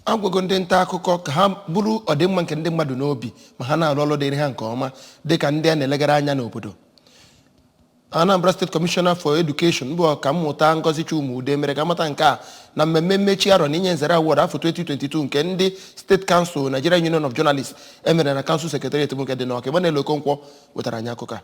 a gwago ndị nta akụkọ ka ha buru ọdịmma nke ndị mmadụ n'obi ma ha na-alụ ọlụ dịrị ha nke ọma dị ka ndị a na-elegara anya n'obodo Anambra State Commissioner for Education bụ ọkammụta Ngozi Chuma-Udeh mere ka a mata nke a na mmemme mmechi arọ na inye nzere award afọ 2022 nke ndị State Council Nigeria Union of Journalists e mere na Council Secretariat bụ nke dị n'Ọka Emmanuel Okonkwo wetara anyị akụkọ a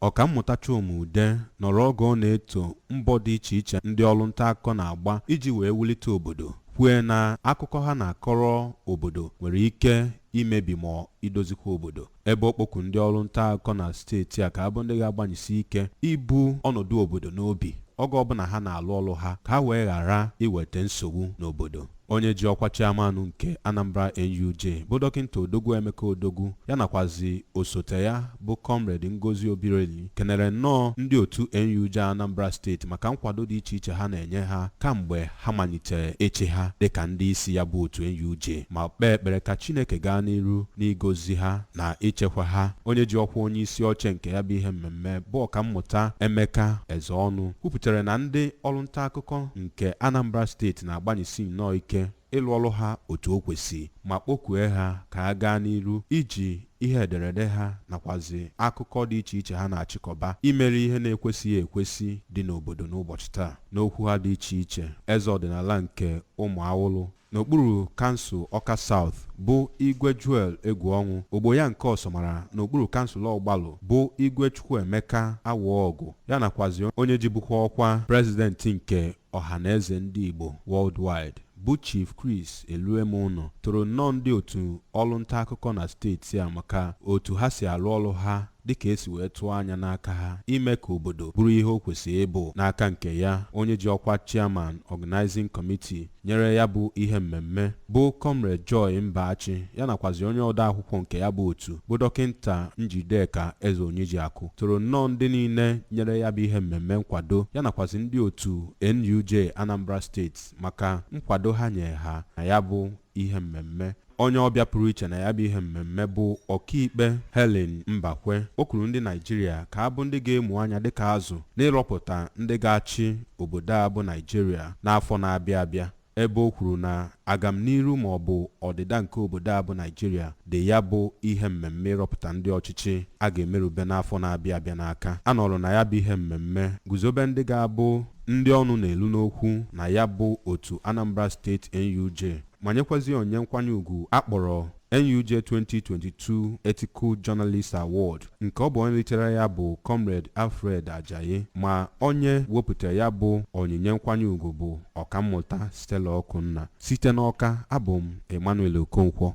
Ọkammụta Chuma-Udeh nọrọ oge ọ na-eto mbọ dị iche iche ndị ọlụ ntaakụkọ na-agba iji wee wulite obodo, kwue na akụkọ ha na-akọrọ obodo nwere ike imebi ma ọ idozikwa obodo, ebe ọ kpọku ndị ọlụ ntaakụkọ na steeti a ka ha bụ ndị ga-agbanyesi ike ibu ọnọdụ obodo n'obi oge ọbụla ha na-alụ ọlụ ha ka ha wee ghara iwete nsogbu n'obodo. onye ji ọkwa chairman nke Anambra NUJ bụ dọkịnta Odogwu Emeka Odogwu ya nakwazi osote ya bụ Comrade Ngozi Obireli kenere nnọọ ndị otu NUJ Anambra steeti maka nkwado dị iche iche ha na-enye ha kamgbe ha malitere ịchị ha dịka ndị isi ya bụ otu NUJ ma kpee ekpere ka Chineke gaa n'iru n'igozi ha na ichekwa ha onye ji ọkwa onye isi oche nke ya bụ ihe mmemme bụ ọkammụta Emeka Ezeọnụ kwupụtara na ndị ọrụ nta akụkọ nke Anambra steeti na-agbanyesi nnọọ ike ịlụ ọlụ ha otu o kwesị ma kpọkue ha ka ha gaa n'iru iji ihe ederede ha nakwazi akụkọ dị iche iche ha na-achịkọba imeri ihe na-ekwesịghị ekwesị dị n'obodo n'ụbọchị taa. N'okwu ha dị iche iche, eze ọdịnala nke Ụmụawụlụ N'okpuru kansụl Ọka South bụ Igwe Joel Egwuọnwụ, ogbo ya nke Ọsọmara n'okpuru kansụl Ọgbalụ bụ Igwe Chukwuemeka Awọgụ, ya nakwazi onye jibukwa ọkwa Prezidenti nke Ọhanaeze Ndị Igbo Worldwide bụ Chief Chris Eluemunọ toro nnọọ ndị otu ọlụ ntaakụkọ na steeti a maka otu ha si alụ ọlụ ha dịka e si wee tụọ anya n'aka ha ime ka obodo bụrụ ihe o kwesịrị ịbụ. N'aka nke ya, onye ji ọkwa Chairman Organizing Committee nyere ya bụ ihe mmemme, bụ Comrade Joy Mbachị, ya nakwazi onye odeakwụkwọ nke ya bụ otu, bụ Dọkịnta Njideka Ezeonyejiakụ, toro nnọọ ndị niile nyere ya bụ ihe mmemme nkwado, ya nakwazi ndị otu NUJ Anambra Steeti maka nkwado ha nyere ha na ya bụ ihe mmemme. Onye ọbịa pụrụ iche na ya bụ ihe mmemme bụ ọkaikpe Helen Mbakwe kpọkuru ndị Naịjirịa ka ha bụ ndị ga-amụ anya dịka azụ n'ịrọpụta ndị ga-achị obodo a bụ Naịjirịa n'afọ na-abịa abịa ebe o kwuru na agamniru ma ọ bụ ọdịda nke obodo a bụ Naịjirịa dị ya bụ ihe mmemme ịrọpụta ndị ọchịchị a ga-emerube n'afọ na-abịa abịa n'aka a nọrọ na ya bụ ihe mmemme guzobe ndị ga-abụ ndị ọnụ na-elu n'okwu na ya bụ otu Anambra State NUJ ma nyekwazi onyinye nkwanye ugwu a kpọrọ NUJ 2022 Ethical Journalist Award nke ọ bụ onye litere ya bụ Comrade Alfred Ajayi ma onye wepụtara ya bụ onyinye nkwanye ugwu bụ Ọkammụta Stella Ọkụnna site n'Ọka abụ m Emmanuel Okonkwo